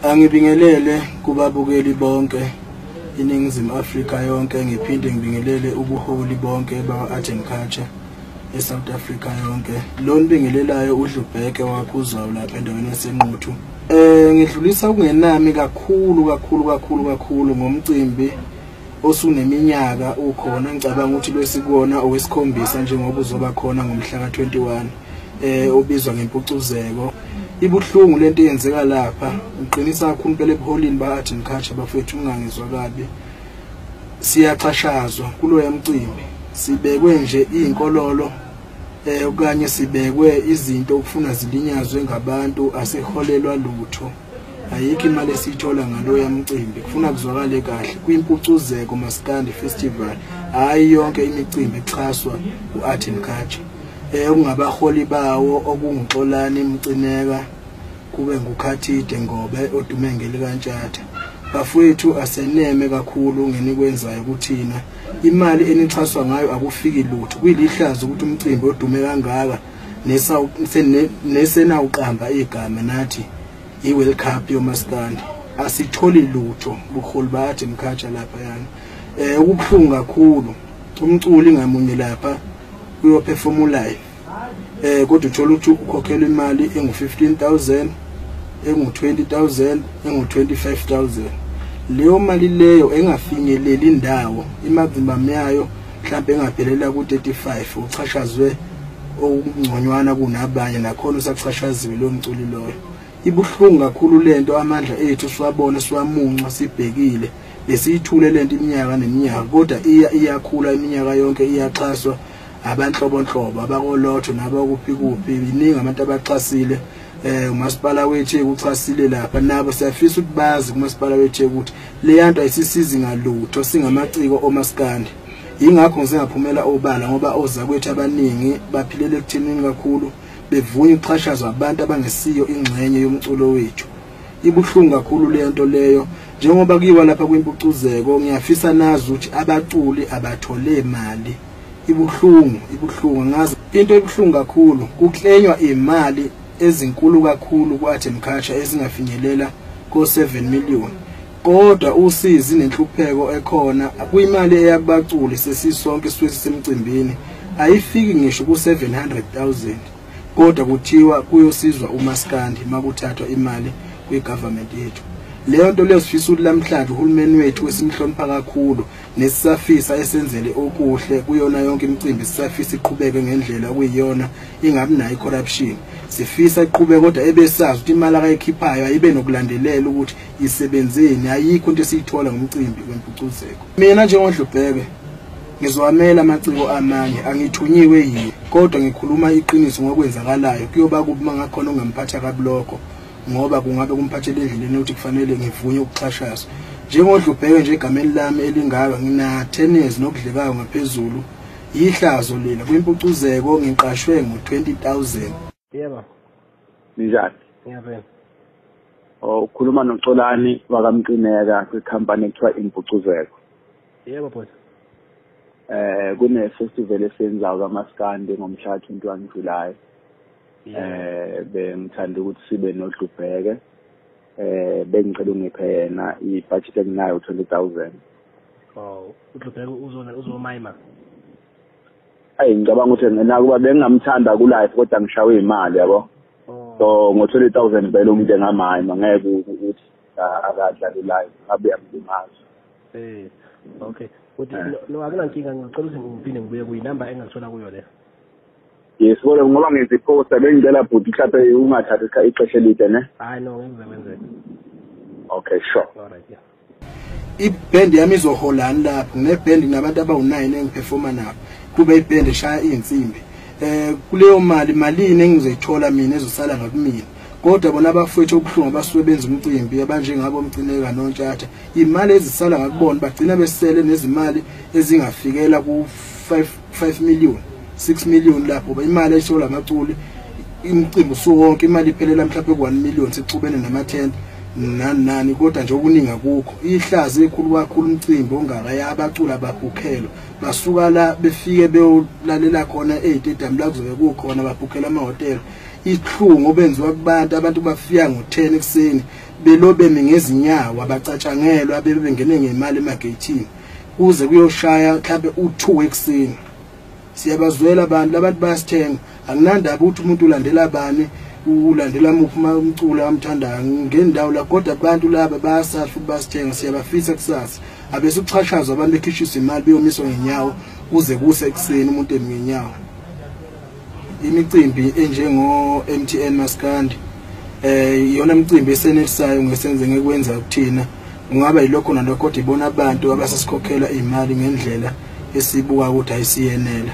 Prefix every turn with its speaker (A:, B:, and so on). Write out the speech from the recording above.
A: Angibingelele kubabukeli bonke iNingizimu Afrika yonke ngiphinde ngibingelele ubuholi bonke bakwa-Art and Culture eSouth Africa yonke lo nibingelelayo udlubheke wakhuzwayo lapha endaweni yasenquthu um ngidlulisa ukungenami kakhulu kakhulu kakhulu kakhulu ngomcimbi osuneminyaka ukhona ngicabanga ukuthi lwesikona owesikhombisa njengoba uzoba khona ngomhla ka-21 eh obizwa ngempucuzeko ibuhlungu lento eyenzeka lapha ngiqinisa kakhulu impela ebuholini ba-art and culture bafethu ungangizwa kabi siyaxhashazwa kuloya mcimbi sibekwe nje iy'nkololo um okanye sibekwe izinto okufuna zilinyazwe ngabantu asiholelwa lutho ayikho imali esiyithola ngaloya mcimbi kufuna kuzwakale kahle kwimpucuzeko maskandi festival hhayi yonke imicimbi exhaswa u-art and culture um eh, okungabaholi bawo okunguxolani mcineka kube ngukhathide ngobe odume ngelikaNtshatha bafowethu aseneme kakhulu ngenikwenzayo kuthina imali enixhaswa ngayo akufiki lutho kuyilihlazo ukuthi umcimbi odume kangaka nesenawuqamba igama nathi i-world cup yomaskandi asitholi lutho bukhulu bathi mkhatsha lapha yani um eh, ukubuhlungu kakhulu umculi ngamunye lapha uyophefoma ulive um kodwa uthole ukuthi ukhokhelwa imali engu-fifteen thousand engu-twenty thousand engu-twenty-five thousand leyo mali leyo engafinyeleli indawo imazimbamu yayo mhlawumbe engaphelela ku-35 uchashazwe okungconywana kunabanye nakhona usachashaziwe lo mculi loyo ibuhlungu kakhulu le nto amandla ethu siwabona siwamuncwa sibhekile besiyithule le nto iminyaka neminyaka kodwa iya iyakhula iminyaka yonke iyaxhaswa abanhlobonhlobo abakolotho nabakuphi kuphi iningi abantu abaxhasile eh umasipala weTheku uxhasile lapha nabo siyafisa ukuthi bazi kumasipala weTheku ukuthi leyanto ayisisizi ngalutho singamaciko omaskandi ingakho ngisengaphumela obala ngoba oza kwethu abaningi baphilela ekuthenini kakhulu bevunya ukuxhashazwa abantu abangesiyo ingxenye yomculo wethu ibuhlungu kakhulu lento leyo njengoba kuyiwa lapha kwimpucuzeko ngiyafisa nazi ukuthi abaculi abathole imali ibuhlungu ibuhlungu ngazi into ebuhlungu kakhulu kuklenywa imali ezinkulu kakhulu kwathi mkhatsha ezingafinyelela ko7 million kodwa usizi nenhlupheko ekhona kuyimali eyabaculi sesisonke siwe sisemcimbini ayifiki ngisho ku700000 kodwa kuthiwa kuyosizwa umaskandi makuthathwa imali kwigovernment yethu leyo nto leyo sifisa ukuthi lamhlanje uhulumeni wethu wesimhlonipha kakhulu nesisafisa esenzele okuhle kuyona yonke imicimbi sisafisa iqhubeke ngendlela okuyiyona ingabi nayo icorruption sifisa iqhubeke kodwa ebesazi ukuthi imali akayikhiphayo ayibe nokulandelela ukuthi isebenzeni ayikho into esiyithola ngomcimbi wempucuzeko mina njengondlubheke ngizowamela amaciko amanye angithunyiwe yiye kodwa ngikhuluma iqiniso ngokwenzakalayo kuyoba kubi mangakhona ongamphatha kabi lokho ngoba kungabe kumphathele endleleni ukuthi kufanele ngivunye ukuxhashazwa njengodlubheke nje egameni lami elingaka nginatenesi nokudlekayo ngaphezulu yihlazo lena kwimpucuzeko ngiqashwe ngo-20000 yebo
B: ninjani
C: ngiyabena oh,
B: ukhuluma noxolani wakamqineka kwikhampani ekuthiwa impucuzeko yebo
C: bhuti eh
B: kune-festival esenzayo kamaskandi ngomhla 21 July eh bengithanda ukuthi sibe nodlubheke eh bengicela ungiphe yena ibudget enginayo 20000 oh
C: udlubheke uzona uzomayima ayi
B: ngicabanga ukuthi nakuba bengingamthanda ku life kodwa ngishawe imali yabo oh. so ngo 20000 belo umuntu engamayima ngeke ukuthi akadla ku life abe amlimaza eh okay uthi eh. no akunankinga ngicela
C: ukuthi ngiphinde ngibuye kuyinamba engathola kuyo le Yes,
B: kodwa ngoba ngenza iposter bengicela bhuti mhlawumbe ungathathi isikhathi ixesha elide ne? Hayi
C: no, ngeke
B: kwenzeke. Okay, sure. All
C: right, yeah. iband
A: yami izoholani lapho ngineband nginabantu abawu-9 engiphefoma nabo kube iband eshaya iy'nsimbi um kuleyo mali malini engizoyithola mina ezosala ngakumina kodwa bona abafowethu obuhlungu abasuke benza umcimbi abanjengabo mcineka nontshatha imali ezisala ngakubona bagcina besele nezimali ezingafikela ku-5 5 million 6 million lapho ba imali ayishola amaculi imcimbi usuwonke imali iphelela mhlawumbe ku 1 million sixubene nama tent nani nani kodwa nje okuningi akukho ihlazi ekhulu kakhulu umcimbi ongakaya abaculi ababhukhelwa basuka la befike beyolalela khona ezitedium la kuzobe kukhona babhukhela amahhotela ihlungu obenziwa kubantu abantu bafika ngo-10 ekuseni belobeme ngezinyawo abacatshangelwa bebengene ngemali emageyithini kuze kuyoshaya mhlambe u2 ekseni siyabazwela abantu labantu bayasithenga anginandaba ukuthi umuntu ulandela bani ulandela muphi umculo amthandayo ngendawo la kodwa abantu laba bayasasha ukuthi basithenga siyabafisa kusasa abesikuxhashazwa abantu bekhishisa imali beyomiswa ngenyawo kuze kuse ekuseni umuntu eminyawo imicimbi enjengo-mtn maskandi eh iyona mcimbi esenelisayo ngesenze ngekwenza kuthina ungaba yilokho nalokho kodwa ibona abantu abasesikhokhela imali ngendlela esibuka ukuthi ayisiyenela